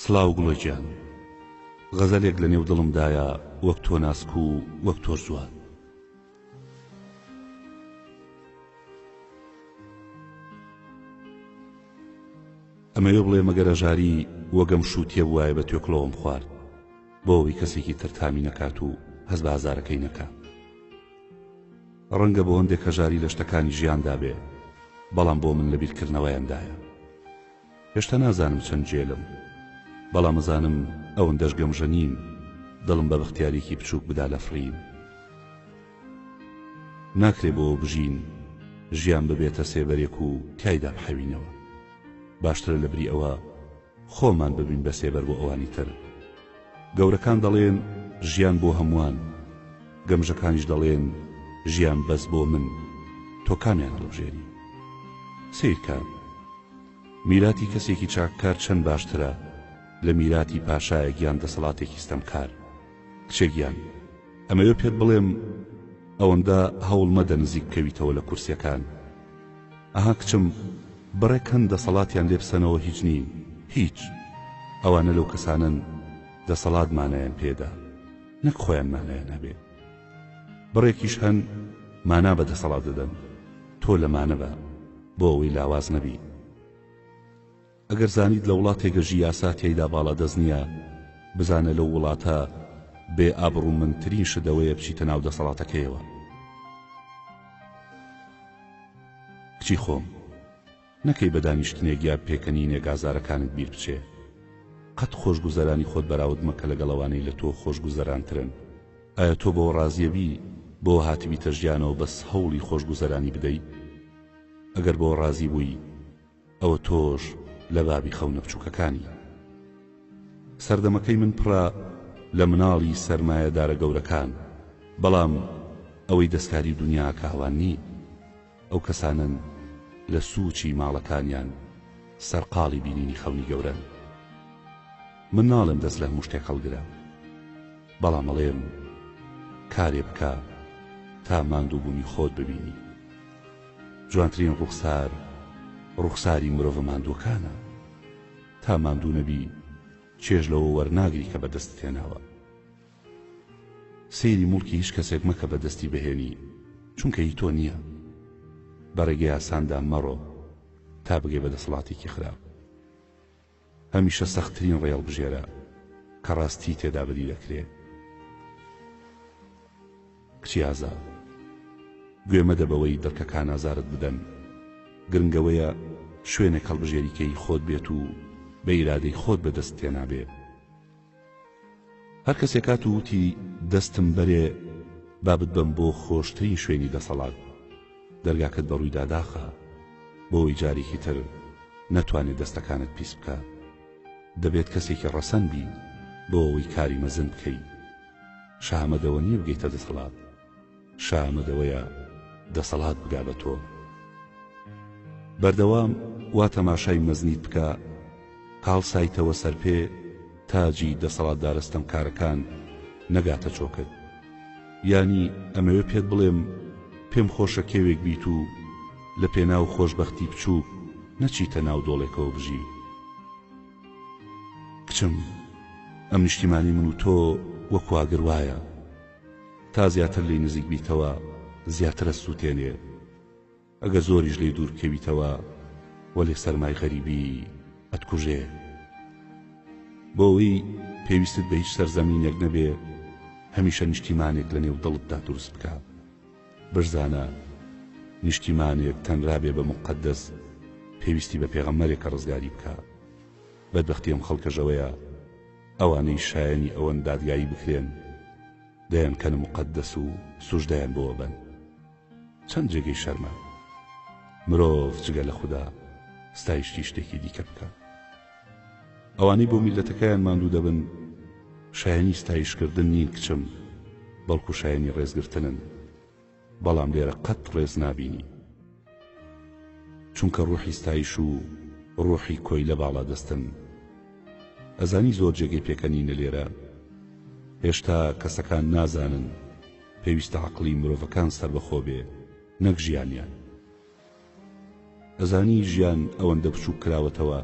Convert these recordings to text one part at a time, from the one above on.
سڵاو گوڵە گیان غەزەلێک لە نێو دڵم دایە وەک تۆ ناسک و وەک تۆش جوان ئەمەوێ بڵێ مەگەر ئەژاری وەگەم شووتیە بوایە بە توێکڵەوەم خوارد بۆ ئەوەی کەسێکی تر تامی نەکات و هەست بە ئازارەکەی نەکات ڕەنگە بۆ هەندێک هەژاری لە شتەکانی ژیاندا بێ، بەڵام بۆ من لە بیرکردنەوەیاندایە. هێشتا نازانم چەند جێلم، بەڵام ئەزانم ئەوەندەش گەمژە نیم دڵم بە بەختیارییەکی بچووک بدا لە فڕین. ناکرێ بۆ بژین، ژیان ببێتە سێبەرێک و تیایدا بحەوینەوە. باشترە لە بری ئەوە، خۆمان ببین بە سێبەر بۆ ئەوانی تر گەورەکان دەڵێن ژیان بۆ هەمووان گەمژەکانیش دەڵێن ژیان بەس بۆ من تۆ کامیان هەڵبژێری سیرکە میراتی کەسێکی چاککار چەند باشترە لە میراتی پاشایەک یان دەسەڵاتێکی ستەمکار کچێکیان ئەمەوێ پێت بڵێم ئەوەندە هەوڵ مەدە نزیک بکەویتەوە لە کورسیەکان ئەها کچم بڕێک هەن دەسەڵاتیان لێ بسەنەوە هیچ نین هیچ ئەوانە لەو کەسانەن دەسەڵات مانایان پێدا نەک خۆیان مانایان هەبێ بڕێکیش هەن مانا بە دەسەڵات دەدەن تۆ لەمانە بە بۆ ئەوەی لاواز نەبی. ئەگەر زانیت لە وڵاتێک گەشی یاسا تیایدا باڵادەست نیە بزانە لەو وڵاتە بێ ئابڕومەندترین شت ئەوەیە بچیتە ناو دەسەڵاتەکەیەوە. کچی خۆم. نەکەی بە دانیشتنێک یا پێکەنینێک ئازارەکانت بیر بچێ. قەت خۆشگوزەرانی خۆت بەراود مەکە لەگەڵ ئەوانەی لە تۆ خۆشگوزەرانترن. ئایا تۆ بەوە ڕازیە بی بۆ هاتبیتە ژیانەوە بەس هەوڵی خۆشگوزەرانی بدەی؟ ئەگەر بەوە ڕازی بووی. ئەوە تۆش لە بابی خەونە بچوکەکانی. سەردەمەکەی من پڕە لە مناڵی سەرمایەدارە گەورەکان، بەڵام ئەوەی دەستکاری و دونیاکە ئەوان نین، ئەو کەسانەن لە سوچی ماڵەکانیان سەرقاڵی بینینی خەونی گەورەن. من ناڵێم دەست لە هەموو شتێک هەڵگرە. بەڵام ئەڵێم کارێ بکە تا ماندووبوونی خۆت ببینی جوانترین ڕوخسار ڕوخساری مرۆڤە ماندووەکانە تا ماندوو نەبی چێژ لەوە وەرناگری کە بەدەستت هێناوە سەیری موڵکی هیچ کەسێک مەکە بەدەستی بهێنی چونکە هی تۆ نییە بەڕێگەی ئاساندا مەڕۆ تا بگەی بە دەسەڵاتێکی خراپ هەمیشە سەختترین ڕێ هەڵبژێرە کە ڕاستی تێدا بەدی دەکرێ. کچی ئازا، گوێ مەدە بەوەی دڕکەکان ئازارت بدەن، گرنگ ئەوەیە شوێنێک هەڵبژێری کە هی خۆت بێت و بە ئیرادەی خۆت بەدەستت تێنابێ. هەر کەسێک هات و وتی دەستم بەرێ با بتبەم بۆ خۆشترین شوێنی دەسەڵات، دەرگاکەت بەڕوویدا داخە بۆوەی جارێکی تر نەتوانێت دەستەکانت پیس بکات. دەبێت کەسێکی ڕەسەن بیت بۆ ئەوەی کاری مەزن بکەیت. شەهامەت ئەوە نییە بگەیتە دەسەڵات. شا ئامەد ئەوەیە دەسەڵات بگا بە تۆ بەردەوام وا تەماشای مەزنیت بکە هاڵسایتەوە سەر پێ تاجی دەسەڵات دارستەم کارەکان نەگاتە چۆکت ینی ئەمەوێ پێت بڵێم پێم خۆشە کێوێک بیت و لە پێناو خۆشببختی بچووک نەچیتە ناو دۆڵێکەوە بژی کچم ئەم نیشتیمانی من و تۆ وەکواگر وایە تا زیاتر لێی نزیک بیتەوە زیاتر ئەتسووتێنێ ئەگەر زۆریش لێی دوور کەویتەوە وەلێ سەرمای غەریبی ئەتکوژێ بۆ ئەوەی پێویستت بە هیچ سەرزەمینێک نەبێ هەمیشە نیشتیمانێک لە نێو دڵتدا دروست بکە بشزانە نیشتیمانێک تەنرا بێ بە مقدەس پێویستی بە پێغەمەرێکە ڕزگاری بکە بەدبختی ئەم خەڵکەژەوەیە ئەوانەی شایەنی ئەوەن دادگایی بکرێن دەیان کەنە موقەدەس و سوژدەیان بۆ ئەبەن چەند جێگەی شەرمە مرۆڤ جگە لە خودا ستایشتی شتێکی دیکە بکە ئەوانەی بۆ میلەتەکەیان ماندوو دەبن شایەنی ستایشکردن نین کچم بەڵکو شایەنی ڕێزگرتنن بەڵام لێرە قەت ڕێز نابینی چونکە ڕوحی ستایش و ڕوحی کۆیلە باڵا دەستن ئەزانی زۆر جێگەی پێکەنینە لێرە هێشتا کەسەکان نازانن پێویستە عەقڵی مرۆڤەکان سەربەخۆ بێ نەک ژیانیان. ئەزانی ژیان ئەوەندە بچوک کراوەتەوە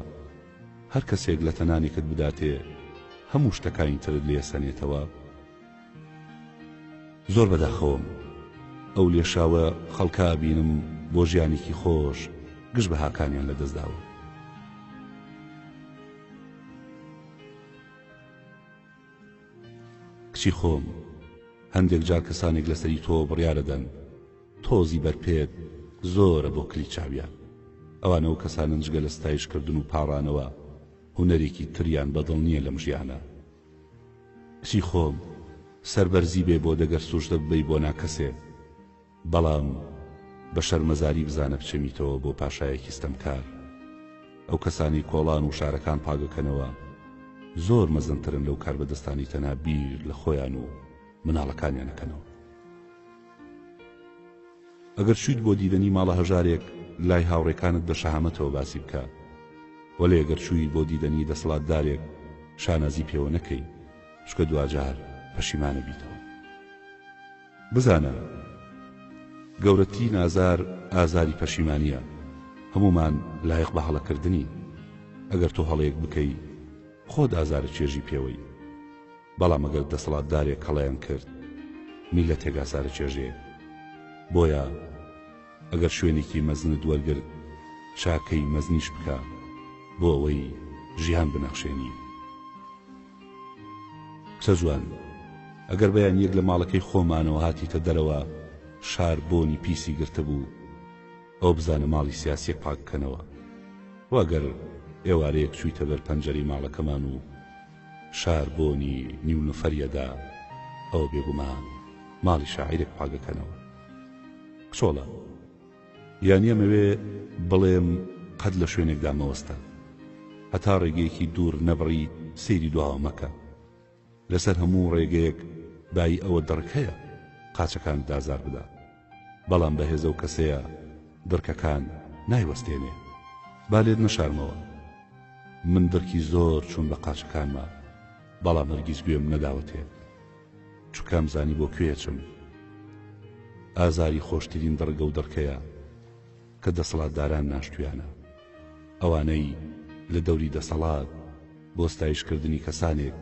هەر کەسێک لە تەنانێکت بداتێ هەموو شتەکانی ترت لێ سەنێتەوە؟ زۆر بەداخەوەم ئەو لێشاوە خەڵکە ئەبینم بۆ ژیانێکی خۆش گشت بەهاکانیان لەدەستداوە کچی خۆم هەندێک جار کەسانێک لەسەری تۆ بڕیارەدەن تۆزی بەرپێت زۆرە بۆ کلیچاویان ئەوان ئەو کەسانەن جگە لە ستایش کردن و پاڕانەوە هونەرێکی تریان بە دڵ نیە لەم ژیانە کچی خۆم سەربەرزی بێ بۆ دەگەر سوژدە ببەی بۆ ناکەسێ بەڵام بە شەرمەزاری بزانە بچێمیتەوە بۆ پاشایەکی ستەمکار ئەو کەسانی کۆڵان و شارەکان پاگەکەنەوە زۆر مەزنترن لەو کاربەدەستانی تەنها بیر لە خۆیان و مناڵەکانیانەکەنەوە ئەگەر چویت بۆ دیدەنی ماڵە هەژارێک لای هاوڕێکانت بە شەهامەتەوە باسی بکە وەلێ گەر چوی بۆ دیدەنی دەسەڵات دارێک شانازی پێوە نەکەی چکە دواجار پەشیمانە بیتەوە بزانە گەورەتی نازار ئازاری پەشیمانە هەمومان لایق بە هەڵەکردنی ئەگەر تۆ هەڵەیەک بکەی خۆت ئازارە چێژی پێوەی بەڵام ئەگەر دەسەڵاتدارێک هەڵەیان کرد میللەتێک ئازار ئەچێژێ بۆیە ئەگەر شوێنێکی مەزنت وەرگرت چاکەی مەزنیش بکە بۆ ئەوەی ژیان بنەخشێنی کچە جوان ئەگەر بەیان یەک لە ماڵەکەی خۆمانەوە هاتیتە دەرەوە شار بۆنی پیسی گرتبوو ئەو بزانە ماڵی سیاسیەک پاک بکەنەوە واگەر ئێوارەیەک چوویتە بەر پەنجەری ماڵەکەمان و شار بۆنی نیو نفری ئەدا ئەوە بێگومان ماڵی شاعیرێک پاکەکەنەوە کچۆڵە یانی ئەمەوێ بڵێم قەت لە شوێنێکدا مەوەستە هەتا ڕێگەیەکی دوور نەبڕی سەیری دواوە مەکە لەسەر هەموو ڕێگەیەک بای ئەوە دڕکەیە قاچەکان دازار بدە بەڵام بەهێزەو کەسەیە دڕکەکان نایوەستێنێ با لێت نەشارمەوە من دڕکی زۆر چوم بە قاچەکانما بەڵام هەرگیز گوێم نەداوەتێ چوکام زانی بۆ کوێ چم ئازاری خۆشترین دڕگە و دڕکەیە کە دەسەڵاتداران ناشتویانە ئەوانەی لە دەوری دەسەڵات بۆ ستایشکردنی کەسانێک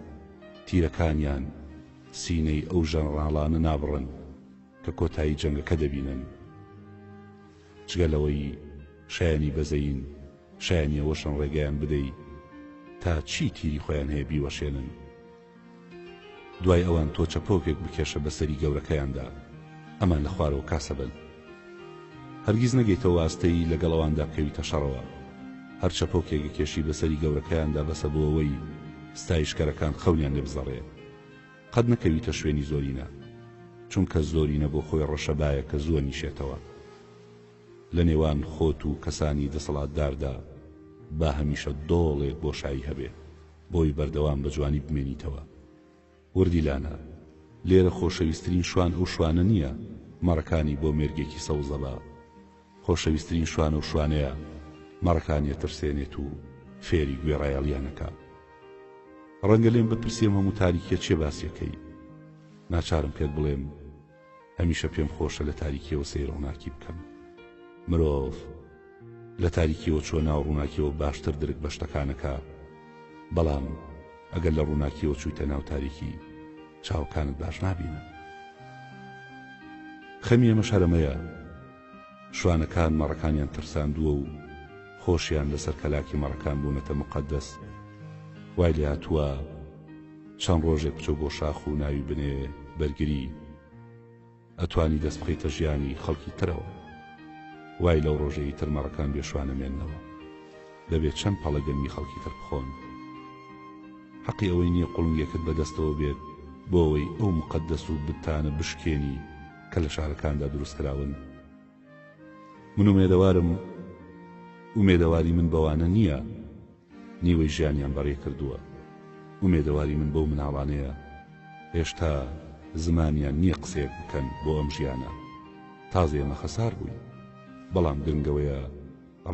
تیرەکانیان سینەی ئەو ژەنڕاڵانە نابڕن کە کۆتایی جەنگەکە دەبینن. جگە لەوەی شایەنی بەزەیین، شایەنی ئەوەشن ڕێگەیان بدەی تا چی تیری خۆیان هەیە بیوەشێنن. دوای ئەوان تۆ چەپۆکێک بکێشە بە سەری گەورەکەیاندا، ئەمان لە خوارەوە کاسە بن. هەرگیز نەگەیتەوە ئاستەی لەگەڵ ئەواندا بکەویتە شەڕەوە. هەر چەپۆکێک گکێشی بە سەری گەورەکەیاندا بەسە بۆ ئەوەی ستایشکەرەکان خەونیان لێ بزەڕێ. قەت نەکەویتە شوێنی زۆرینە چونکە زۆرینە بۆ خۆی ڕەشەبایە کە زووە نیشێتەوە لە نێوان خۆت و کەسانی دەسەڵاتداردا با هەمیشە دۆڵێک بۆشایی هەبێ بۆی بەردەوام بە جوانی بمێنیتەوە وردی لانە لێرە خۆشەویسترین شوان ئەو شوانە نییە مەڕەکانی بۆ مێرگێکی سەوزەبا خۆشەویسترین شوانە و شوانەیە مەڕەکانی ئەترسێنێت و فێری گوێڕایەڵیان ئەکا. ڕەنگە لێم بپرسی ئەم هەموو تاریکیە چیە باسی ئەکەی؟ ناچارم پێت بڵێم هەمیشە پێم خۆشە لە تاریکیەوە سەیر ڕووناکی بکەم. مرۆڤ لە تاریکیەوە چووە ناو ڕووناکیەوە باشتر درک بە شتەکان ئەکا، بەڵام ئەگەر لە ڕووناکیەوە چوویتە ناو تاریکی چاوەکانت باش نابینن. خەمی ئێمەش هەر ئەمەیە. شوانەکان مەڕەکانیان ترساندووە و خۆشیان لەسەر کەلاکی مەڕەکان بوونەتە موقەدەس. وای لێهاتووە چەند ڕۆژێک بچۆ بۆ شاخ و ناوی بنێ بەرگری. ئەتوانی دەست بخەیتە ژیانی خەڵکی ترەوە. وای لەو ڕۆژەی ئیتر مەڕەکان بێ شوان نەمێننەوە. دەبێ چەند پەڵە گەنمی خەڵکی تر بخۆن. حەقی ئەوەی نییە قوڵنگێکت بە دەستەوە بێت بۆ ئەوەی ئەو موقەدەس و بتانە بشکێنی. کە لە شارەکاندا دروست کراون من ئومێدەوارم ئومێدەواری من بەوانە نییە نیوەی ژیانیان بەڕێ کردووە ئومێدەواری من بەو مناڵانەیە هێشتا زمانیان نییە قسەیەک بکەن بۆ ئەم ژیانە تازە ئێمە خەسار بووین بەڵام گرنگەوەیە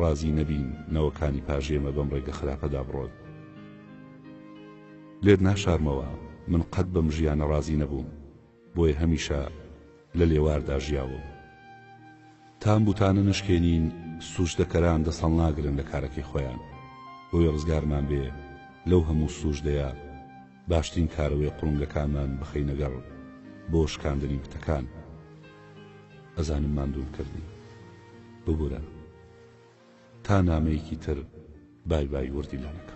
ڕازی نەبین نەوەکانی پاژێمە بەم ڕێگە خراپەدا بڕۆن لێت ناشارمەوە من قەت بەم ژیانە ڕازی نەبووم بۆیە هەمیشە لە لێواردا ژیاوم تام بوتانە نەشکێنین سوجدەکەران دەسەڵناگرن لە کارەکەی خۆیان بۆیە ڕزگارمان بێ لەو هەموو سوجدەیە باشترین کارەوەی قوڵنگەکانمان بخەینەگەڕ بۆ شکاندنی بتەکان ئەزانم ماندوون کردی ببورە تا نامەیەکی تر بای بای وردی لانەکە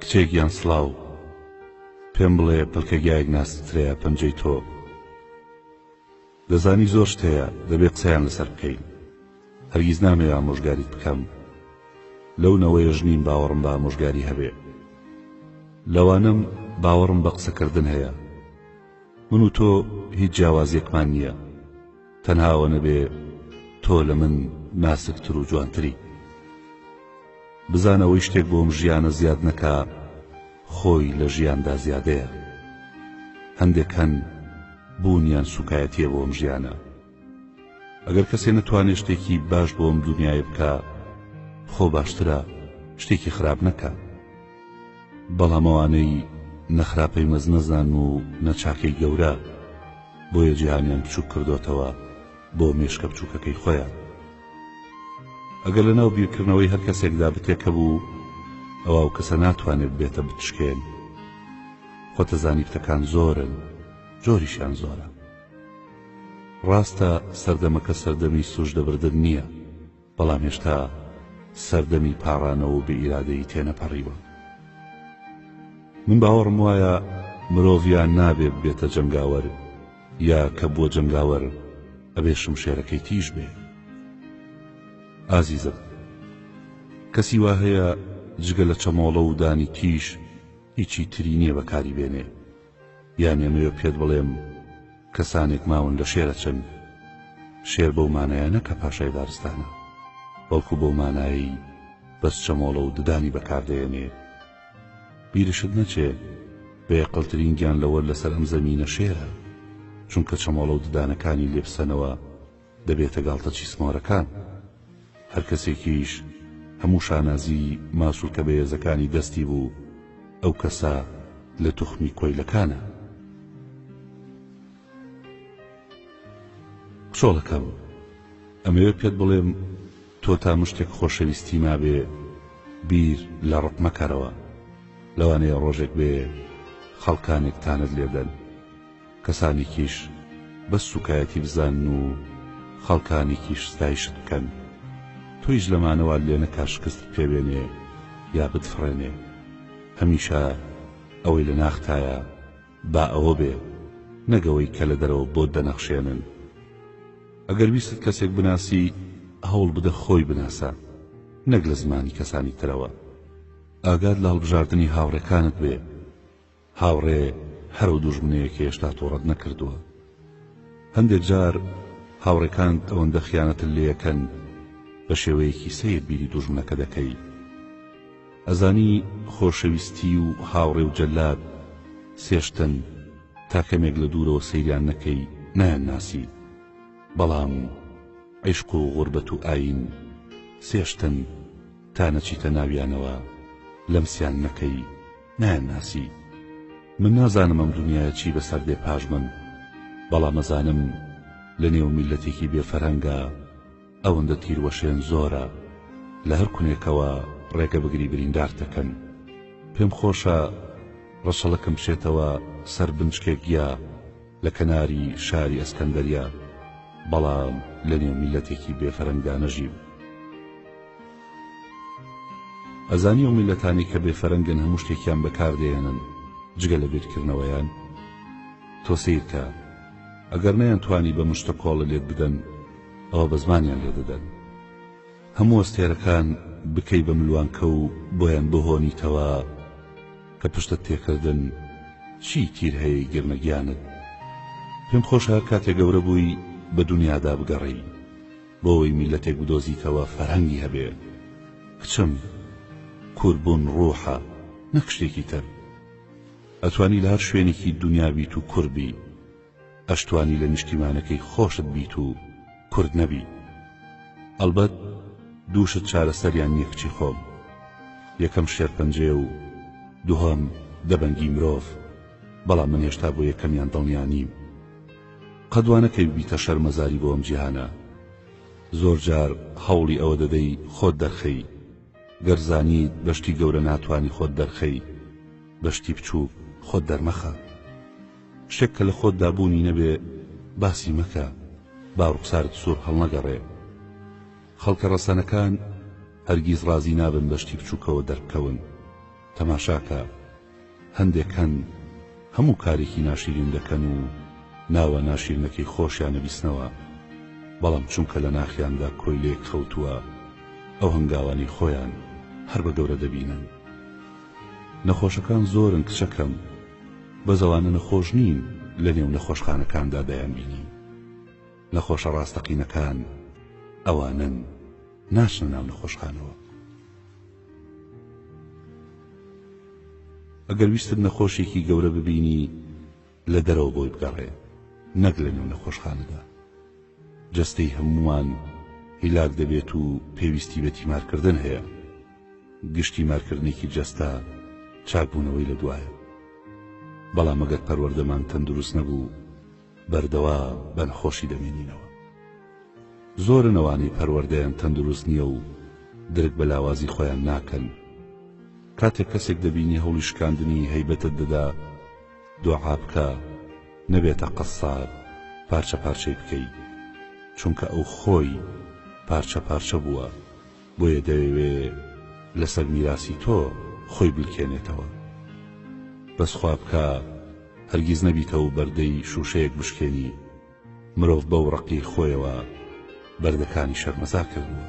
کچێ گیان سڵاو پێم بڵێ پەلکەگایەک ناسکترەیە پەنجەی تۆ دەزانی زۆر شت هەیە دەبێ قسەیان لەسەر بکەین هەرگیز نامەوێ ئامۆژگاریت بکەم لەو نەوەیە ژنیم باوەڕم بە ئامۆژگاری هەبێ لەوانم باوەڕم بە قسەکردن هەیە من و تۆ هیچ جیاوازیەکمان نییە تەنها ئەوە نەبێ تۆ لە من ناسکتر و جوانتری بزانە ئەوەی شتێک بۆم ژیانە زیاد نەکا خۆی لە ژیاندا زیادەیە هەندێک هەن بوونیان سوکایەتیە بۆم ژیانە ئەگەر کەسێ نەتوانێت شتێکی باش بۆم دنیای بکە خۆ باشترە شتێکی خراپ نەکە بەڵامەوانەی نەخراپەی مەزنەزان و نەچاکەی گەورە بۆیە جیهانیان بچوک کردۆتەوە بۆ مێشکە بچوکەکەی خۆیان ئەگەر لە ناو بیرکردنەوەی هەر کەسێکدا بتێکە بوو ئەوە و کەسە ناتوانێت بێتە بتشکێن خۆتەزانی بتەکان زۆرن جۆریشان زۆرە ڕاستە سەردەمەکە سەردەمی سوژدەبردن نییە بەڵام هێشتا سەردەمی پاڕانەوە و بێ ئیرادەیی تێنەپەڕیوە. من باوەڕم وایە مرۆڤ یا نابێ ببێتە جەنگاوەر یا کە بووە جەنگاوەر ئەبێ شمشێرەکەی تیژ بێ. ئازیزم کەسی وا هەیە جگە لە چەمۆڵە و دانی تیژ هیچی تری نییە بەکاری بێنێ. یانی ئەمەوێ پێت بڵێم کەسانێک ماون لە شێر ئەچن شێر بەو مانایە نە کە پاشای دارستانە بەڵکو بەو مانایی بەس چەمۆڵە و ددانی بەکاردەێنێ بیرشت نەچێ بەیەقلترین گیان لەوەر لەسەر ئەم زەمینە شێرە چونکە چەمۆڵە و ددانەکانی لێبسەنەوە دەبێتە گاڵتەچی سمۆرەکان. هەر کەسێکیش هەموو شانازی ماسولکە بەێزەکانی دەستی بوو، ئەو کەسە لە توخمی کۆیلەکانە. کچۆڵەکەم، ئەمەوێ پێت بڵێم تۆ تا مشتێک خۆشەویستی مابێ بیر لە ڕق مەکەرەوە. لەوانەیە ڕۆژێک بێ خەڵکانێک تانەت لێ بدەن، کەسانێکیش بەس سوکایەتی بزانن و خەڵکانێکیش ستایشت بکەن تۆیش لەمانەوە لێنەکا شکستت پێبێنێ یا بتفڕێنێ هەمیشە ئەوەی لە ناختایە با ئەوە بێ نەک ئەوەی کە لە دەرەوە بۆت دەنەخشێنن ئەگەر ویستت کەسێک بناسی هەوڵ بدە خۆی بناسە نەک لە زمانی کەسانی ترەوە ئاگات لە هەڵبژاردنی هاوڕێکانت بێ هاوڕێ هەرەو دوژمنەیە کە هێشتا تۆڕەت نەکردووە هەندێک جار هاوڕێکانت ئەوەندە خیانەتت لێەکەن بە شێوەیەکی سەیر بیری دوژمنەکە دەکەی ئەزانی خۆشەویستی و هاوڕێ و جەلاد سێشتن تا کەمێک لە دوورەوە سەیریان نەکەی نایان ناسی بەڵام عیشق و غوربەت و ئاین سێشتن تا نەچیتە ناویانەوە لەمسیان نەکەی نایانناسی من نازانم ئەم دنیایە چی بەسەر دێ پاش من بەڵام ئەزانم لە نێو میللەتێکی بێ فەرهەنگا ئەوەندە تیروەشێن زۆرە لە هەر کونێکەوە ڕێگە بگری بریندار دەکەن پێم خۆشە ڕەشەڵەکەم بچێتەوە سەر بنچکێک گیا لە کەناری شاری ئەسکەندەریا بەڵام لە نێو میلەتێکی بێفەرەنگدانەژیم ئەزانی ئەو میللەتانەی کە بێ فەرەنگن هەموو شتێکیان بەکار دەیەنن جگە لە بیرکردنەوەیان تۆ سەیرکە ئەگەر نەیان توانی بە مشتە کۆڵە لێت بدەن ئەوە بە زمانیان لێ دەدەن هەموو ئەستێرەکان بکەی بە ملوانکە و بۆیان بهۆنیتەوە کە پشتە تێکردن چی تیر هەیە گرنەگیانت پێم خۆشە کاتێ گەورە بووی بە دنیادا بگەڕێی بۆی میلەتێک بدۆزیتەوە فەرهەنگی هەبێ کچم کورد بوون ڕوحە نەک شتێکی تر ئەتوانی لە هەر شوێنێکی دونیا بیت و کورد بی ئەشتوانی لە نیشتیمانەکەی خۆشت بیت و کورد نەبی ئەلبەت دووشت چارەسەریان نیە کچی خۆم یەکەم شێرپەنجەیە و دووهەم دەبەنگی مرۆڤ بەڵام من هێشتا بۆ یەکەمیان دڵنیا نیم قەت وا نەکەی ببیتە شەرمەزاری بۆ ئەم جیهانە زۆر جار هەوڵی ئەوە دەدەی خۆت دەرخەی گەر زانیت بە شتی گەورە ناتوانی خۆت دەرخەی بە شتی بچووک خۆت دەرمەخە شتێک کە لە خۆتدا بوونی نەبێ باسی مەکە با ڕوخسارت سوور هەڵنەگەڕێ خەڵکە ڕەسەنەکان هەرگیز ڕازی نابن بە شتی بچووکەوە دەربکەون تەماشاکە هەندێک هەن هەموو کارێکی ناشیرین دەکەن و ناوە ناشیرنەکەی خۆشیان ئەبیسنەوە بەڵام چونکە لە ناخیاندا کۆیلەیەک خەوتووە ئەو هەنگاوانەی خۆیان هەر بە گەورە دەبینن نەخۆشەکان زۆرن کچەکەم بەس ئەوانە نەخۆش نین لە نێو نەخۆشخانەکاندا دەیانبینی نەخۆشە ڕاستەقینەکان ئەوانن ناچنە ناو نەخۆشخانەوە ئەگەر ویستت نەخۆشێکی گەورە ببینی لە دەرەوە بۆی بگەڕێ نەک لە نێو نەخۆشخانەدا جەستەی هەمووان هیلاک دەبێت و پێویستی بە تیمارکردن هەیە گشتی مارکردنێکی جەستە چاکبوونەوەی لە دوایە بەڵام ئەگەر پەروەردەمان تەندروست نەبوو بەردەوام بەن خۆشی دەبینینەوە. زۆرن ئەوانەی پەروەردەیان تەندروست نیە و درک بە لاوازی خۆیان ناکەن کاتێک کەسێک دەبینی هەوڵی شکاندنی هەیبەتت دەدا دۆعا بکە نەبێتە قەساب پارچە پارچەی بکەی چونکە ئەو خۆی پارچە پارچە بووە بۆیە دەیەوێ لەسەر میراسی تۆ خۆی بلکێنێتەوە بەس خوا بکا هەرگیز نەبیتەو بەردەی شوشەیەک بشکێنی مرۆڤ بەو ڕەقی خۆیەوە بەردەکانی شەرمەزار کردوە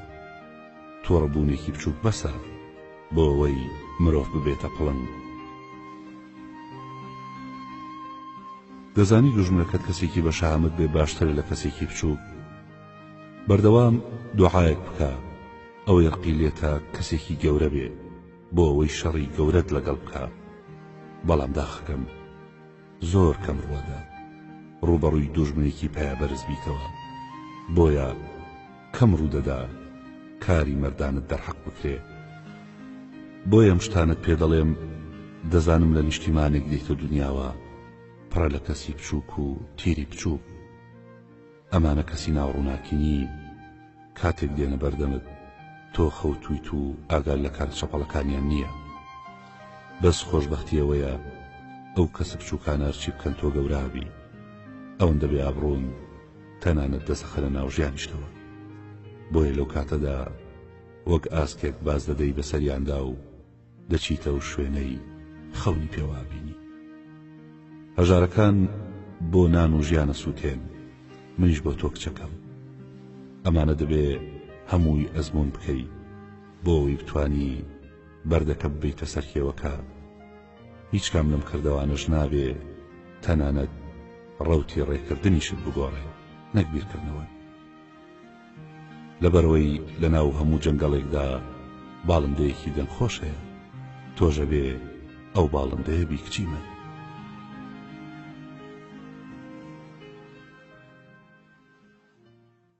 توڕە بونێکی بچوک بەسە بۆ ئەوەی مرۆڤ ببێتە پڵنگ. دەزانی دوژمنەکەت کەسێکی بەشەهامەت بێ باشترە لە کەسێکی بچوک. بەردەوام دوعایەک بکە ئەوەی ڕقی لێتە کەسێکی گەورە بێ بۆ ئەوەی شەڕی گەورەت لەگەڵ بکە بەڵام داخەکەم زۆر کەم ڕوەدا ڕوبەڕووی دوژمنێکی پایەبەرز بیتەوە بۆیە کەم ڕوودەدا کاری مەردانت دەرحەق بکرێ بۆیە ئەم شتانت پێ دەڵێم دەزانم لە نیشتیمانێک دێتە دنیاوە پڕە لە کەسی بچووک و تیری بچووک ئەمانە کەسی ناو ڕووناکی نین کاتێک دێنە بەردەمت تۆ خەوتویت و ئاگات لە کارە چەپەڵەکانیان نییە بەس خۆشبەختی ئەوەیە ئەو کەسە بچووکانە هەرچی بکەن تۆ گەورابی ئەوەندە بێ ئابڕوون تەنانەت دەسەخەنە ناو ژیانیشتەوە بۆیە لەو کاتەدا وەک ئاسکێک باز دەدەی بەسەریاندا و دەچیتە ئەو شوێنەی خەونی پێوا بینی هەژارەکان بۆ نان و ژیانە سووتێن منیش بۆ تۆ کچەکەم ئەمانە دەبێ هەمووی ئەزمون بکەی بۆ ئەوی بتانی بەردەکە ببیتە سەر کێوەکە هیچ کام لەم کردەوانەش نابێ تەنانەت ڕوتی ڕێکردنیشت بگۆڕێ نەک بیرکردنەوە لەبەرئەوەی لەناو هەموو جەنگەڵێکدا باڵندەیەکی دەنگخۆش هەیە تۆش ئەبێ ئەو باڵندەیە بی کچی من.